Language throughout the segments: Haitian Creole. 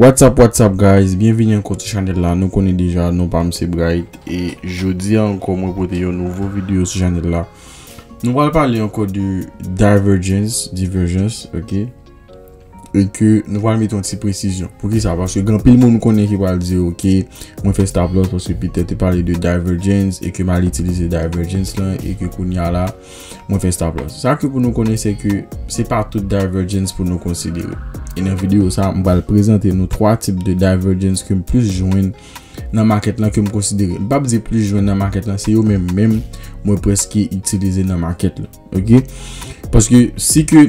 What's up what's up guys byenvini ankò sou chanèl la nou konnen deja non pam se Bright e jodi a ankò mwen pote yon nouvo video sou chanèl la nou pral pale ankò de divergence divergence ok e ke nou pral mete yon ti presizyon pou ki sa paske gen anpil moun konnen ki pral di ok mwen fè stop loss paske Peter te pale de divergence e ke mal itilize divergence lan e ke kounya la Mwen fè stop loss. Sa ke pou nou konnen se ke se pa tout divergence pou nou konsidere. E nan video sa, m pral prezante nou 3 tip de divergence ke m plis jwenn nan market lan ke m konsidere. M pap di plis jwenn nan market lan, se yo menm menm mwen preske itilize nan market lan. Ok? Paske si ke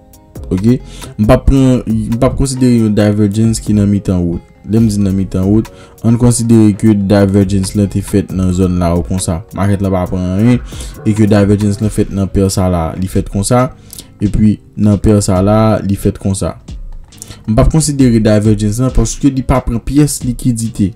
Ok, m pap pran, m pap konsidere yon divergence ki nan mitan wout. Lè m di nan mitan wout, an n konsidere ke divergence lan te fèt nan zòn la ou konsa. Market la pa pran anyen, e ke divergence lan fèt nan pair sa la, li fèt konsa, e pi nan pair sa la, li fèt konsa. M pap konsidere divergence lan paske li pa pran pyès likidite.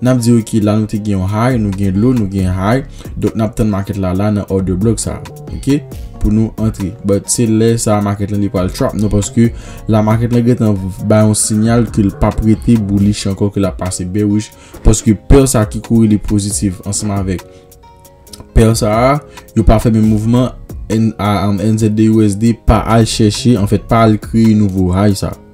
Nap di ok la nou te gen yon high nou gen low nou gen high donk nap tann market la la nan order block sa ok pou nou antre but se lè sa market lan li pral trap nou paske la market lan gentan bay yon sinyal ke l pap rete bullish ankò ke lap pase bearish paske pair sa ki korele positive ansanm avèk pair sa yo pa fè menm mouvman NZD USD pa al chèche anfèt pa al kreye nouvo high sa.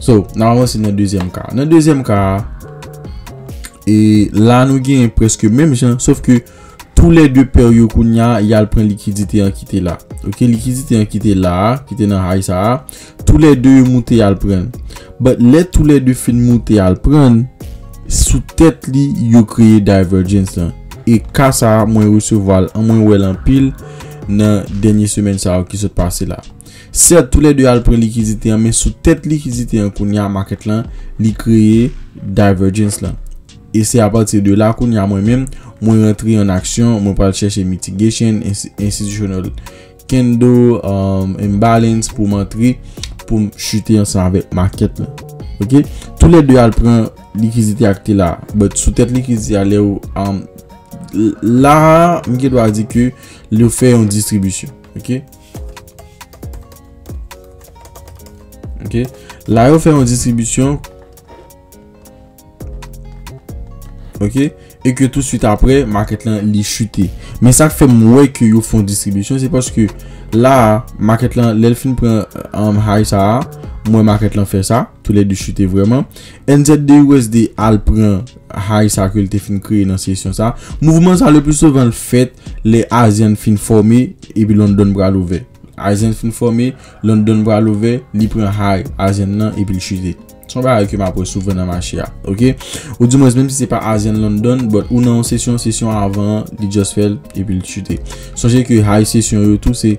So, nan avan se nan dezyèm ka. Nan dezyèm ka, e la nou gen preske menm jan, sof ke tou le de per yo kou nya, yal pren likidite an kite la. Ok, likidite an kite la, kite nan high sa a, tou le de yo moute yal pren. But, le tou le de fin moute yal pren, sou tet li, yo kreye divergence lan. E ka sa a, mwen resevwa l, an mwen wè l anpil, nan denye semen sa a ki sot pase la. Sèt tou lè 2 al pran likidite an men sou tèt likidite an kounye a market lan li kreye divergence lan e se apati de la kounye a mwen menm mwen rantre an aksyon mwen pral chèche mitigation, institutional candle, imbalance pou m antre pou m chute ansanm avèk market lan ok tou lè 2 al pran likidite ak te la but sou tèt likidite a lè ou la m gen dwa di ke li ou fè yon distribisyon. Ok. Ok. La yo fè yon distribisyon. Ok. E ke tout suite apre, market lan li chute. Men sa k fè mwen ke yo fè yon distribisyon, se paske la, market lan, lè l fin pran an um, high sa a, mwen market lan fè sa a. Tou lè 2 chute vrèman. NZDUSD al pran high sa ke l te fin kreye nan sesyon sa. Mouvman sa le plus souvent l fèt lè ASEAN fin fòme epi London pral ouvè. ASEAN fin fòme, London pral ouvè, li pran high ASEAN nan epi l chute. Se yon bagay ke m ap wè souvan nan mache a. Ok. Ou di mwens menm si se pa ASEAN London, but ou nan yon sesyon, sesyon avan an li just fè l epi l chute. Sonje ke high sesyon yo tou se.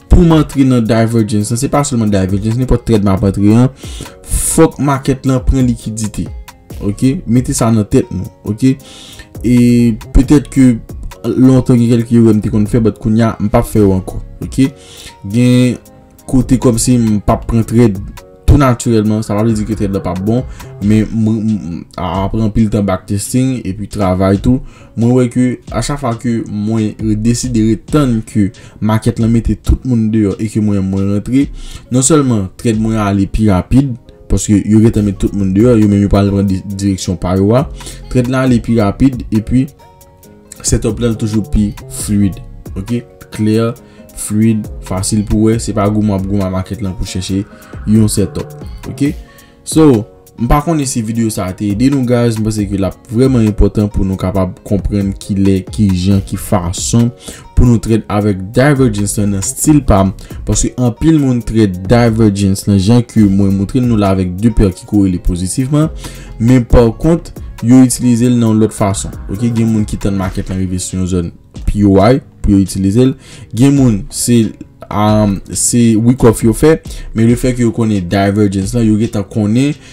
Pou m antre nan divergence lan, se pa selman divergence, nenpòt trèd m ap antre an, fòk makèt lan pran likidite. Ok, mete sa nan tèt nou. Ok, e petèt ke lontan gen kèlke erè m te konn fè, bat kounya m pa fè yo ankò. Ok, gen kote kòm se m pa pran trèd. Tou natirèlman, sa pa vle di ke trèt la pap bon, men apre anpil tan backtesting epi travay tou, mwen wè ke a chak fwa ke mwen deside ret tann ke makèt lan mete tout moun deyò e ke mwen menm mwen rantre, non sèlman trèt mwen ale pi rapid, paske yo gentan met tout moun deyò, yo menm yo pral pran direksyon pa yo a, trèt la ale pi rapid epi Setup la toujou pi fluid. Ok, clear, fluid, fasil pou wè. Se pa goumen wap goumen market lan pou chèche yon setup. Ok, so m pa konnen si video sa te ede nou guys. M panse ke lap vreman enpotan pou nou kapab konprenn kilè, kijan, ki fason pou nou trèt avèk Divergence lan nan stil pa m, paske anpil moun trèt Divergence lan jan ke mwen moutre nou la avèk 2 pè ki korele pozitifman, men pa kont, yo itilize l nan yon lòt fason. Ok, gen moun ki tann makèt lan rive sou yon zòn pi way pou yo itilize l, gen moun se week off yo fè, men le fè ke yo konnen Divergence lan, yo gen tan konnen,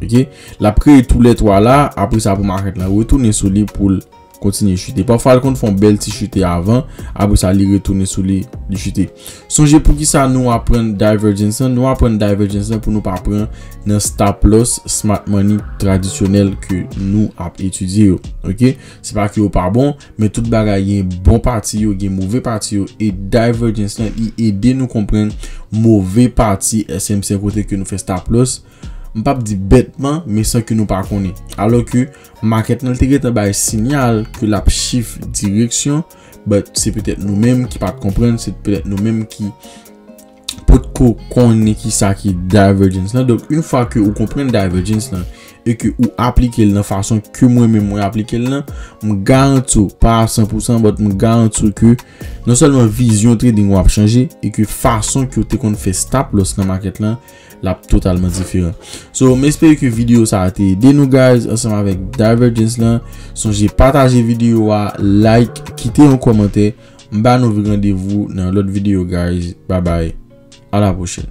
Ok, l ap kreye tou lè 3 la, apre sa pou makèt la retounen sou li pou l kontinye chute. Pafwa l konn fon bèl ti chute avan, apre sa li retounen sou li, li chute. Sonje pou ki sa nou aprann divergence lan, nou aprann divergence lan pou nou pa pran nan stop loss smart money tradisyonèl ke nou ap etidye yo. Ok, se pa ke yo pa bon, men tout bagay gen bon pati yo, gen move pati yo, e divergence lan li ede nou konprann move pati SMC kote ke nou fè stop loss. M pap di bètman, men san ke nou pa konnen. Alò ke makèt lan te gentan bay sinyal ke l ap shift direksyon, but se petèt nou menm ki pat konprann, se petèt nou menm ki potko konnen ki sa ki divergence lan. Donk, yon fwa ke ou konprann divergence lan e ke ou aplike l nan fason ke mwen menm mwen aplike l lan, m garanti w, pa a san pou san, but m garanti w ke non sèlman vizyon trading ou ap chanje e ke fason ke ou te konn fè stop loss nan makèt lan, Lap totalman diferan. So m espere ke video sa a te ede nou guys ansanm avèk Divergence lan. Sonje pataje video a, like, kite yon kòmantè. M ba nou randevou nan yon lòt video guys. Bye bye. A la pwochèn.